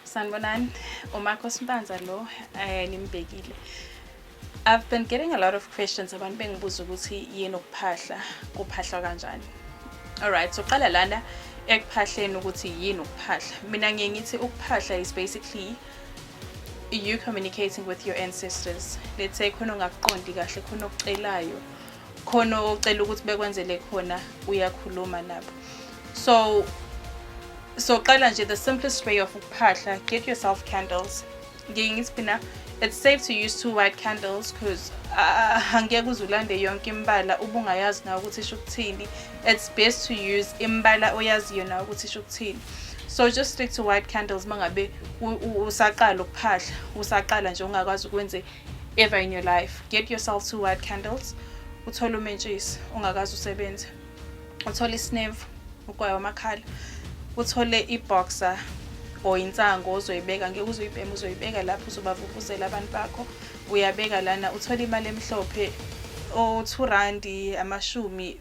Sanibonani, uMarcos Mpanza lo eh nimbhekile. I've been getting a lot of questions abantu bengibuza ukuthi yini ukuphahla, kuphahlwa kanjani. Alright, so qala lana ekuphahleni ukuthi yini ukuphahla. Mina ngiye ngithi ukuphahla is basically you communicating with your ancestors. Let's say khona ongakuqondi kahle, khona okucelayo. khona ocela ukuthi bekwenzele khona uyakhuluma lapho so soqala nje the simplest way of ukuphahla get yourself candles ngiye ngithi phina it's safe to use two white candles because ah, angeke uze ulande yonke imbala ubungayazi nawe ukuthi isho ukuthini it's best to use imbala oyaziyo nawe ukuthi isho ukuthini so just stick to white candles mangabe usaqala ukuphahla usaqala nje ungakwazi ukwenze ever in your life get yourself two white candles uthole umentshisi ungakazi usebenze uthole isinevu ugwayo amakhala uthole iboxer or insango ozoyibeka ngeke uzoyibhema uzoyibeka lapho uzobavuvuzela abantu bakho uyabeka lana uthole imali emhlophe o-two randi amashumi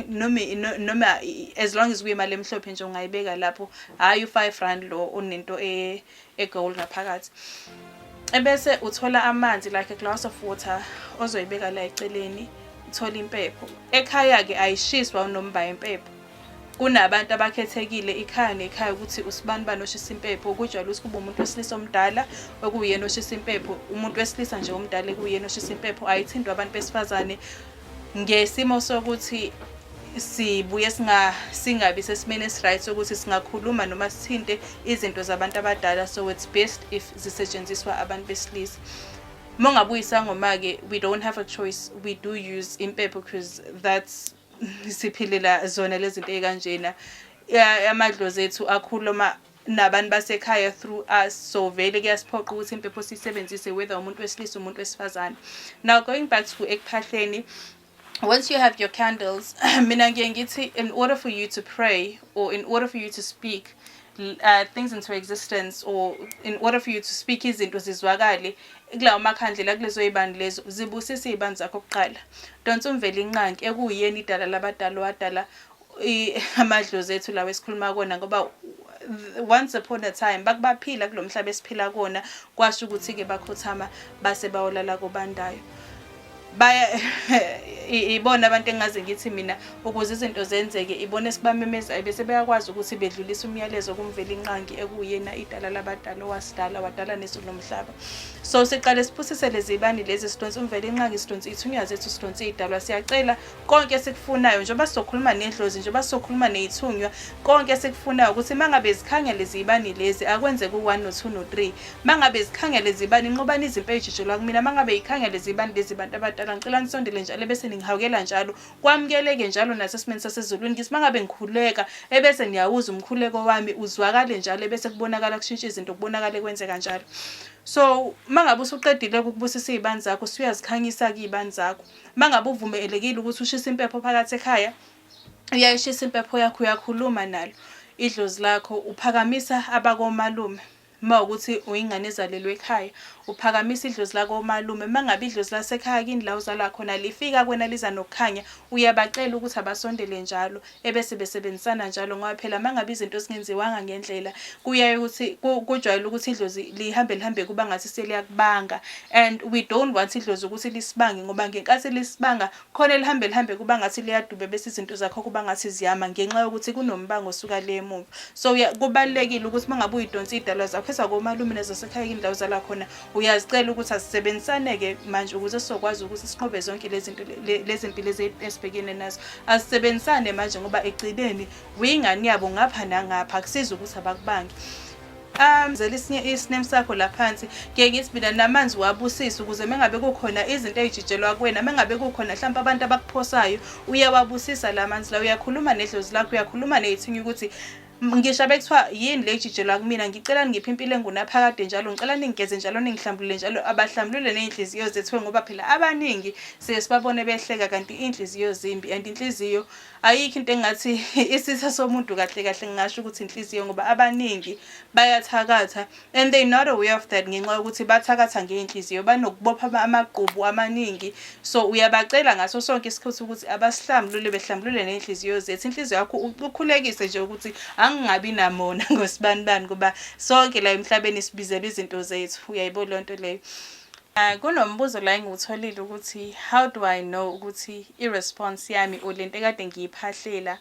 noma noma as long as kuyimali emhlophe nje ungayibeka lapho hhayi u-five rand lo onento e, egowl ngaphakathi ebese uthola amanzi like a glass of water ozoyibeka la eceleni uthola impepho ekhaya-ke ayishiswa unomba impepho kunabantu abakhethekile ikhaya nekhaya ukuthi usibani bani oshisa impepho kujwayele ukuthi kube umuntu wesilisa omdala okuyena oshisa impepho umuntu wesilisa nje omdala ekuyena oshisa impepho ayithindwa abantu besifazane ngesimo sokuthi sibuye singa singabi sesimeni esiryt sokuthi singakhuluma noma sithinte izinto zabantu abadala so it's best if zisetshenziswa abantu besilisa uma ungabuyisangoma-ke we don't have a choice we do use impepho because that's siphilela zona lezi zinto ey'kanjena amadlozi ethu akhuluma nabantu basekhaya through us so vele kuyasiphoqa ukuthi impepho siyisebenzise whether umuntu wesilisa umuntu wesifazane now going back to ekuphahleni once you have your candles mina ngiye ngithi in order for you to pray or in order for you to speak uh, things into existence or in order for you to speak izinto zizwakale kulawo makhandlela kulezo yibani lezo zibusise iy'bani zakho kuqala donsa umvela inqanki ekuyiyena idala labadala wadala amadlozi ethu lawo esikhuluma kona ngoba once upon a time bakubaphila kulo mhlaba esiphila kona kwasho ukuthi-ke bakhothama base bawolala kobandayo baya ibona abantu engaze ngithi mina ukuze izinto zenzeke ibona esibamemeza bese beyakwazi ukuthi bedlulise umyalezo kumvela inqangi ekuyena idala labadala owasidala wadala nezulu nomhlaba so siqale siphusise lezibani lezi sidonsa umvela inqangi sidonsa ithunya zethu sidonsa idalwa siyacela konke esikufunayo njengoba sizokhuluma nedlozi njengoba sizokhuluma neyithunywa konke esikufunayo ukuthi mangabe zikhangele ziyibani lezi akwenzeke u-1 no-2 no-3 mangabe zikhangele zibani nqobani izimpi eyijijelwa kumina mangabe yikhangele zibani lezi bantu abadala ngicela nisondele njalo ebese ningihawukela njalo kwamukeleke njalo nasesimeni sasezulwini ngithi mangabe ngikhuleka ebese niyawuza umkhuleko wami uzwakale njalo ebese kubonakala kushintsha izinto kubonakale kwenzeka njalo so mangabe usuqedile ukubusisa izibani zakho usuyazikhanyisa kuyibani zakho uma ngabe uvumelekile ukuthi ushise impepho phakathi ekhaya uyayishisa impepho yakho uyakhuluma nalo idlozi lakho uphakamisa abakomalume uma ukuthi uyingane ezalelwe ekhaya uphakamisa idlozi lakomalume uma ngabe idlozi lasekhaya kini la uzalwa khona lifika kwena liza nokukhanya uyabacela ukuthi abasondele njalo ebese besebenzisana njalo ngoba phela mangabe izinto zingenziwanga ngendlela kuyaye ukuthi kujwayele ukuthi idlozi lihambe lihambe kuba ngathi seliyakubanga and we don't want idlozi ukuthi lisibange ngoba ngenkathi lisibanga khona elihambe lihambe kuba ngathi liyaduba bese izinto zakho kuba ngathi ziyama ngenxa yokuthi kunombango osuka le emuva so kubalulekile ukuthi mangabe uyidonsa idalwa zakho ezakomalume nezasekhaya indawo zala khona uyazicela ukuthi asisebenzisaneke manje ukuze sizokwazi ukuthi siqhobe zonke lezinto lezimpilo ezibhekene nazo asisebenzisane manje ngoba egcineni wingane yabo ngapha nangapha kusiza ukuthi abakubangi amzela isinye isinem sakho la phansi ngeke ngithi mina namanzi wabusisa ukuze mengabe kukhona izinto ezijijelwa kuwena mengabe kukhona mhlawumbe abantu abakuphosayo uyawabusisa la manzi la uyakhuluma nedlozi lakho uyakhuluma neyithinya ukuthi ngisho abekuthiwa yini le jijelwa kumina ngicela ningiphe impilo engunaphakade njalo ngicela ningigeze njalo ningihlambulule njalo abahlambulule ney'nhliziyo zethiwe ngoba phela abaningi siye sibabone behleka kanti iy'nhliziyo zimbi and inhliziyo ayikho into engathi isisa somuntu kahle kahle ngingasho ukuthi inhliziyo ngoba abaningi bayathakatha and they not aware of that ngenxa yokuthi bathakatha ngey'nhliziyo banokubopha amagqubu amaningi so uyabacela ngaso sonke isikhathi ukuthi abasihlambulule behlambulule ney'nhliziyo zethu inhliziyo yakho ukhulekise nje ukuthi angingabi namona ngosibanibani kuba sonke la emhlabeni sibizelwa izinto zethu uyayibo leyo nto leyo Uh, kunombuzo la engiwutholile ukuthi how do I know ukuthi i-response yami or lento ekade ngiyiphahlela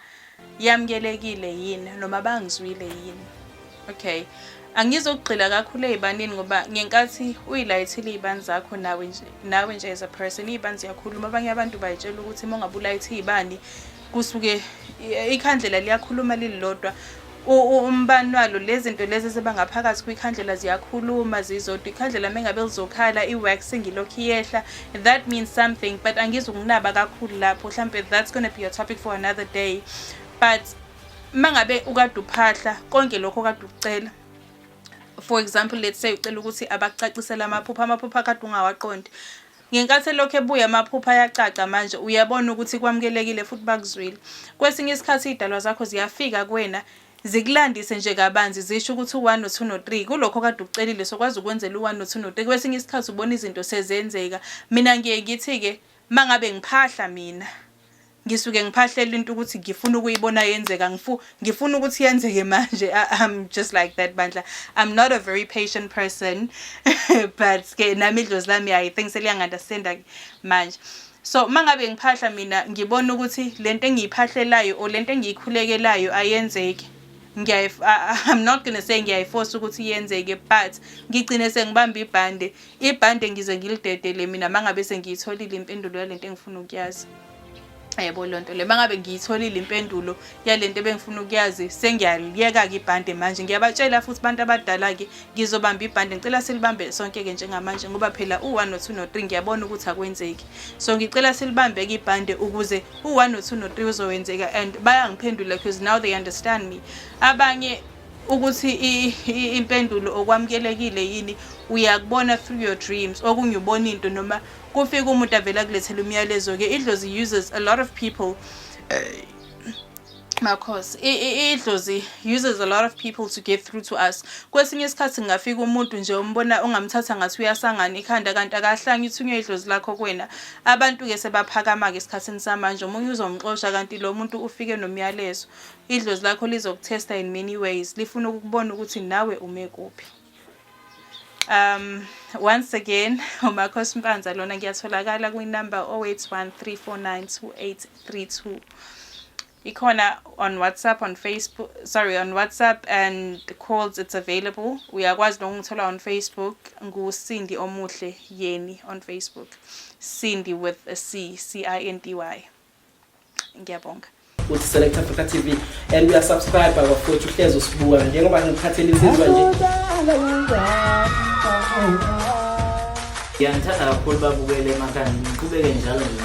yamukelekile yini noma bangizwile yini okay angizokugxila kakhulu ey'banini ngoba ngenkathi uyilayithile iy'bani zakho nawe nje nawe nje as a person iy'bani ziyakhuluma abanye abantu bayitshela ukuthi uma ungabe ulayithe iy'bani kusuke ikhandlela liyakhuluma lililodwa umbani walo lezinto lezi ezibangaphakathi kwikhandlela ziyakhuluma zizodwa ikhandlela mengabe lizokhala i-wax ngilokhu iyehla that means something but angizukunaba kakhulu lapho mhlampe that's gonna be a topic for another day but mangabe ukade uphahla konke lokho kade ukucela for example let's say ucela ukuthi abakucacisele amaphupha amaphupha akade ungawaqondi Ngenkathi elokhu ebuya amaphupho ayacaca manje uyabona ukuthi kwamukelekile futhi bakuzwile. Kwesinye isikhathi iy'dalwa zakho ziyafika kuwena zikulandise nje kabanzi zisho ukuthi u-1 no-2 no-3 kulokho kade ukucelile sokwazi ukwenzela u-1 no-2 no-3 kwesinye isikhathi ubona izinto sezenzeka mina ngiye ngithi-ke mangabe ngiphahla mina ngisuke ngiphahlela into ukuthi ngifuna ukuyibona yenzeka ngifu ngifuna ukuthi yenzeke manje i'm just like that bandla i'm not a very patient person but ke nami idlozi lami i think seliyangandasinda manje so mangabe ngiphahla mina ngibona ukuthi lento engiyiphahlelayo or lento engiyikhulekelayo ayenzeki ngiyayi I'm not going to say ngiyayiforce ukuthi yenzeke but ngigcine sengibamba ibhande ibhande ngize ngilidedele mina mangabe sengiyitholile impendulo yalento engifuna ukuyazi yebo lonto le mangabe ngiyitholile impendulo yalento ebengifuna ukuyazi sengiyaliyeka ke ibhande manje ngiyabatshela futhi abantu abadala ke ngizobamba ibhande ngicela silibambe sonke ke njengamanje ngoba phela u1 no2 no3 ngiyabona ukuthi akwenzeki so ngicela silibambe ke ibhande ukuze u1 no2 no3 uzowenzeka and bayangiphendula because now they understand me abanye ukuthi impendulo okwamukelekile yini uyakubona through your dreams okunye ubona into noma kufika umuntu avele akulethela umyalezo ke idlozi uses a lot of people uh, makhosi idlozi uses a lot of people to get through to us kwesinye isikhathi ngingafika umuntu nje umbona ungamthatha ngathi uyasangana ikhanda kanti akahlangi ithunywe idlozi lakho kuwena abantu-ke sebaphakama-ke esikhathini samanje omunye uzomxosha kanti lo muntu ufike nomyalezo idlozi lakho lizokuthesta in many ways lifuna ukukubona ukuthi nawe ume kuphi Um, once again, uMarcos Mpanza lona ngiyatholakala kwi-number 0813492832. Ikhona on WhatsApp, on Facebook, sorry, on WhatsApp and calls it's available. Uyakwazi nokungithola on Facebook nguSindi Omuhle Yeni on Facebook. Cindy with a C, C I N D Y. ngiyabonga uthi select africa tv and uyasubscribe abafowethu uhlezi usibuka njengoba ngikhathela insizwa nje ngiyangithanda kakhulu babukele emakhanda ngiqhubeke njalo nje